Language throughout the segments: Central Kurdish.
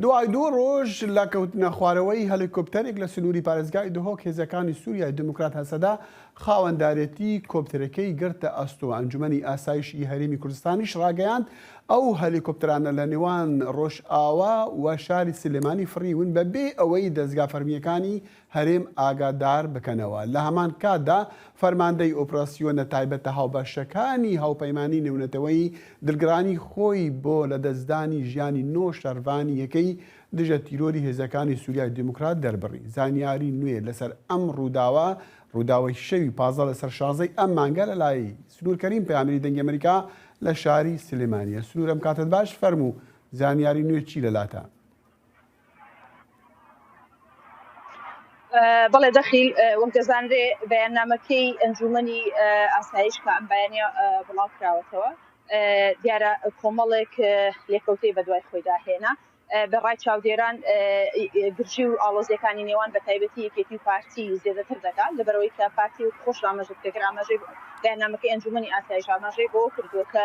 دوای دوو ڕۆژ لە کەوتنەخوارەوەی هەلیکۆپتەرێک لە سنووری پارێزگای دهۆک هێزەکانی سوریای دیموکرات-هەسەدە خاوەندارێتی کۆپتەرەکەی گرتە ئەستۆ، ئەنجومەنی ئاسایش ی هەرێمی کوردستانیش ڕاگەیاند ئەو هەلیکۆپتەرانە لە نێوان ڕۆژئاوا و شاری سلێمانی فڕیون بە بێ ئەوەی دەزگا فەرمییەکانی هەرێم ئاگادار بکەنەوە. لە هەمان کاتدا فەرماندەی ئۆپراسیۆنە تایبەتە هاوبەشەکانی هاوپەیمانیی نێونەتەوەیی دڵگرانی خۆی بۆ لەدەستدانی ژیانی نۆ شەرڤانی یەکەی دژە تیرۆری هێزەکانی سوریای دیموکرات دەربڕی. زانیاریی نوێ لەسەر ئەم ڕووداوە، ڕووداوی شەوی پازدە لەسەر شازدە ی ئەم مانگە لەلای، سنوور کەریم پەیامنێری دەنگی ئەمەریکا لە شاری سلێمانییە. سنوور ئەم کاتەت باش، فەرموو زانیاریی نوێ چی لەلاتە؟ بەڵێ دەخیل وەک دەزانرێ بەیاننامەکەی ئەنجومنی ئاسایش کە ئەم بەیانە بڵاو کراوەتەوە دیارە کۆمەڵێک لێکەوتەی بەدوای خۆیدا هێنا بەڕای چاودێران گرژی و ئاڵۆزیەکانی نێوان بە تایبەتی یەکێتی و پارتی زیێدەتر دەکات لەبەرەوەی کە پارتی و خۆش ئاماژە دەکرد ئاماژەی بەیاننامەکەی ئەنجومنی ئاسایش ئاماژەی بۆ کردووە کە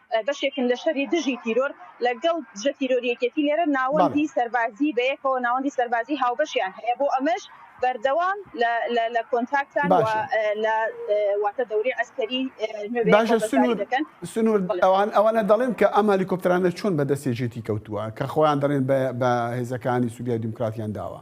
بەشێکن لە شەری دژی تیرۆر لەگەڵ دژە تیرۆری یەکێتی لێرە ناوەندی سەربازی بەیەکەوە ناوەندی سەربازی هاوبەشیان هەیە بۆ ئەمەش بەردەوام لە کۆنتاکتان لە واتە دەوری عسکەری سنوور ئەوان ئەوانە دەڵێن کە ئەم هەلیکۆپترانە چۆن بە دەستی جێتی کەوتووە کە خۆیان دەڵێن بە هێزەکانی سووریا دیموکراتیان داوە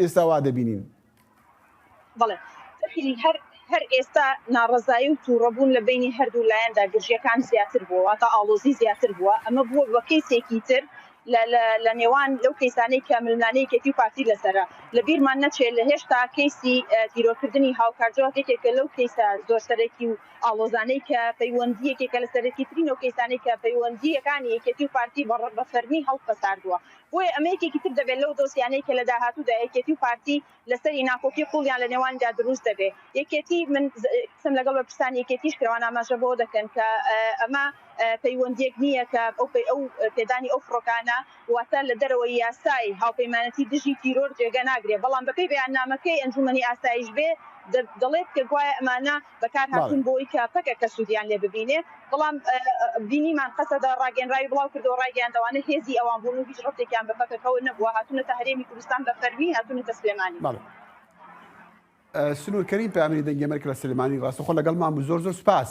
ئێستا وا دەبینین. بەڵێ فەکری هەر هەر ئێستا ناڕەزایی و تووڕەبوون لە بەینی هەردوو لایەندا گرژییەکان زیاتر بووە، واتە ئاڵۆزی زیاتر بووە، ئەمە بووە بە کەیسێکی تر لە لە لە نێوان لەو کەیسانەی کە ململانێی یەکێتی و پارتی لەسەرە. لە بیرمان نەچێ لە هێشتا کەیسی تیرۆرکردنی هاوکار جەواد یەکێکە لەو کەیسە زۆر سەرەکی و ئاڵۆزانەی کە پەیوەندی یەکێکە لە سەرەکیترین ئەو کەیسانەی کە پەیوەندییەکانی یەکێتی و پارتی بە فەرمی هەڵپەساردووە. بۆیە ئەمە یەکێکی تر دەبێت لەو دۆسیانەی کە لە داهاتوودا یەکێتی و پارتی لەسەری ناکۆکی قوڵیان لە نێوانیدا دروست دەبێت. یەکێتی، من قسەم لەگەڵ بەرپرسانی یەکێتیش کرد، ئەوان ئاماژە بەوە دەکەن کە ئەمە پەیوەندییەک نییە کە ئەو پێدانی ئەو فڕۆکانە واتە لە دەرەوەی یاسای هاوپەیمانەتی دژی تیرۆر جێگە ناگرێت، بەڵام بەپێی بەیاننامەکەی ئەنجوومەنی ئاسایش بێ دەڵێت کە گوایە ئەمانە بەکارهاتوون بۆی کە پەکەکە سوودیان لێ ببینێ، بەڵام بینیمان قەسەدە ڕاگەنراوی بڵاوکردەوە ڕایگەیاندەوانە هێزی ئەوان بوون و هیچ ڕەفتێکیان بە پەکەکەوە نەبووە، هاتوونەتە هەرێمی کوردستان بە فەرمی هاتوونەتە سلێمانی. سنوور کەریم پەیامنێری دەنگی ئەمەریکا لە سلێمانی، ڕاستەوخۆ لەگەڵمان بوو، زۆر زۆر سوپاس